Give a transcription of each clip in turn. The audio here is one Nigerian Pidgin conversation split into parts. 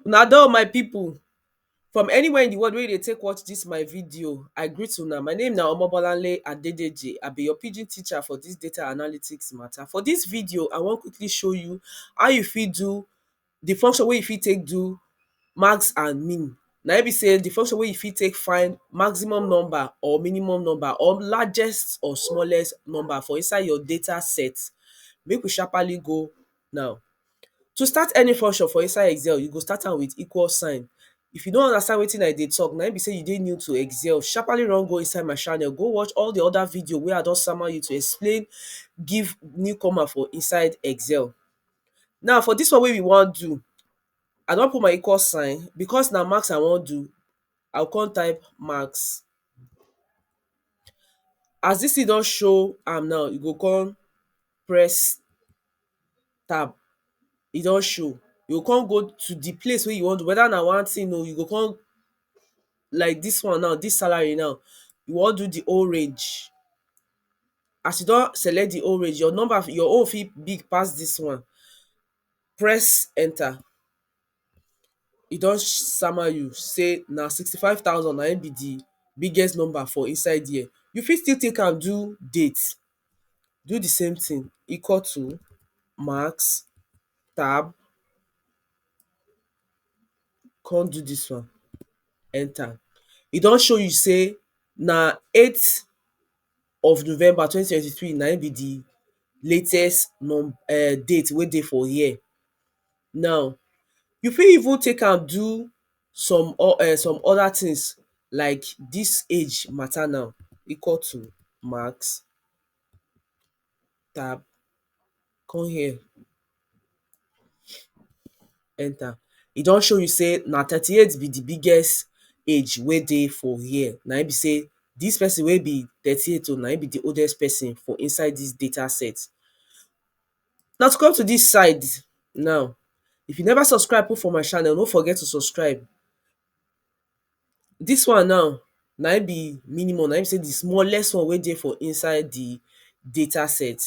Una do my people from anywhere in the world wey you dey take watch this my video I greet una my name na Omobolanle Adedeji I be your pidgin teacher for this data analytics matter for this video I wan quickly show you how you fit do di function wey you fit take do max and min na im be sey di function wey you fit take find maximum number or minimum number or largest or smallest number for inside your data set make we sharpaly go now to start any function for inside excel you go start am with equal sign if you no understand wetin i dey talk na im be sey you dey new to excel sharpaly run go inside my channel go watch all di other video wey i don sama you to explain give new comer for inside excel Now for dis one wey we wan do I don put my equal sign because na maths I wan do I go come type maths as dis thing don show am now you go come press tab e don show you go come go to the place wey you wan do whether na one thing oo you go come like dis one now dis salary now you wan do the whole range as you don select di old range, your number your own fit big pass dis one press enter e don sama you sey na sixty five thousand na im be di biggest number for inside there you fit still take am do date do di same thing equal to max tab come do dis one enter. E don show you sey na eighth of November twenty twenty three na im be de latest um date wey dey for here. Now, you fit even take am do some um some other things like dis age matter now equal to max. tap come here enter e don show you sey na thirty eight be the biggest age wey dey for here na im be sey this person wey be thirty eight so na im be the oldest person for inside this data set now to come to this side now if you never subscribe put for my channel no forget to subscribe Dis one now na im be minimum, na im be sey di smallest one wey dey for inside di data set.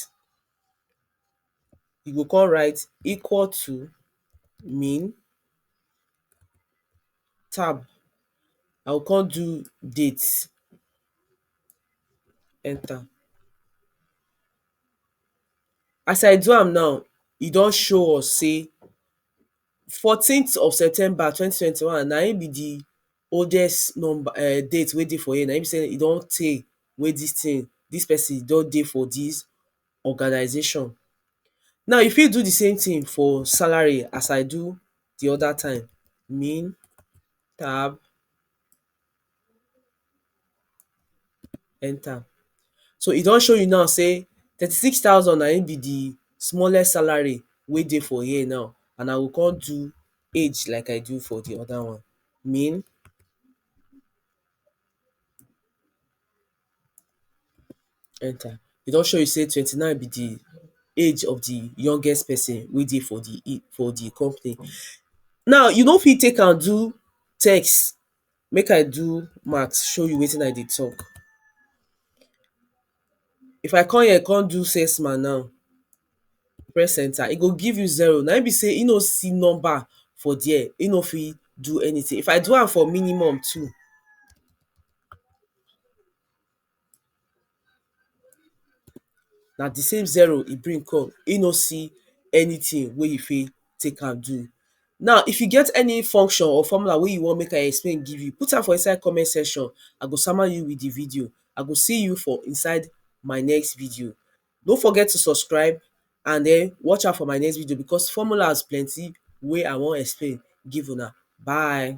You go come write equal to min tab, I go come do date, enter. As I do am now, e don show us sey fourteen th of september twenty twenty one na im be di oldest number um date wey dey for here, na im be sey e don tey wey dis thing, dis person don dey for dis organisation. Now you fit do di same thing for salary as I do di other time, min, tab. enter so e don show you now sey thirty six thousand na im be the smallest salary wey dey for here now and i go come do age like i do for the other one min enter e don show you sey twenty nine be the age of the youngest person wey dey for the company now you no fit take am do text Make I do math show you wetin I dey talk. If I come here come do six ma now, press enter, e go give you zero. Na im be sey e no see number for there. E no fit do anything. If I do am for minimum too na di same zero e bring come e no see anything wey e fit take am do now if you get any function or formula wey you want make I explain give you put am for inside comment section I go sama you with di video I go see you for inside my next video no forget to subscribe and den watch out for my next video because formulas plenty wey I want explain give una bye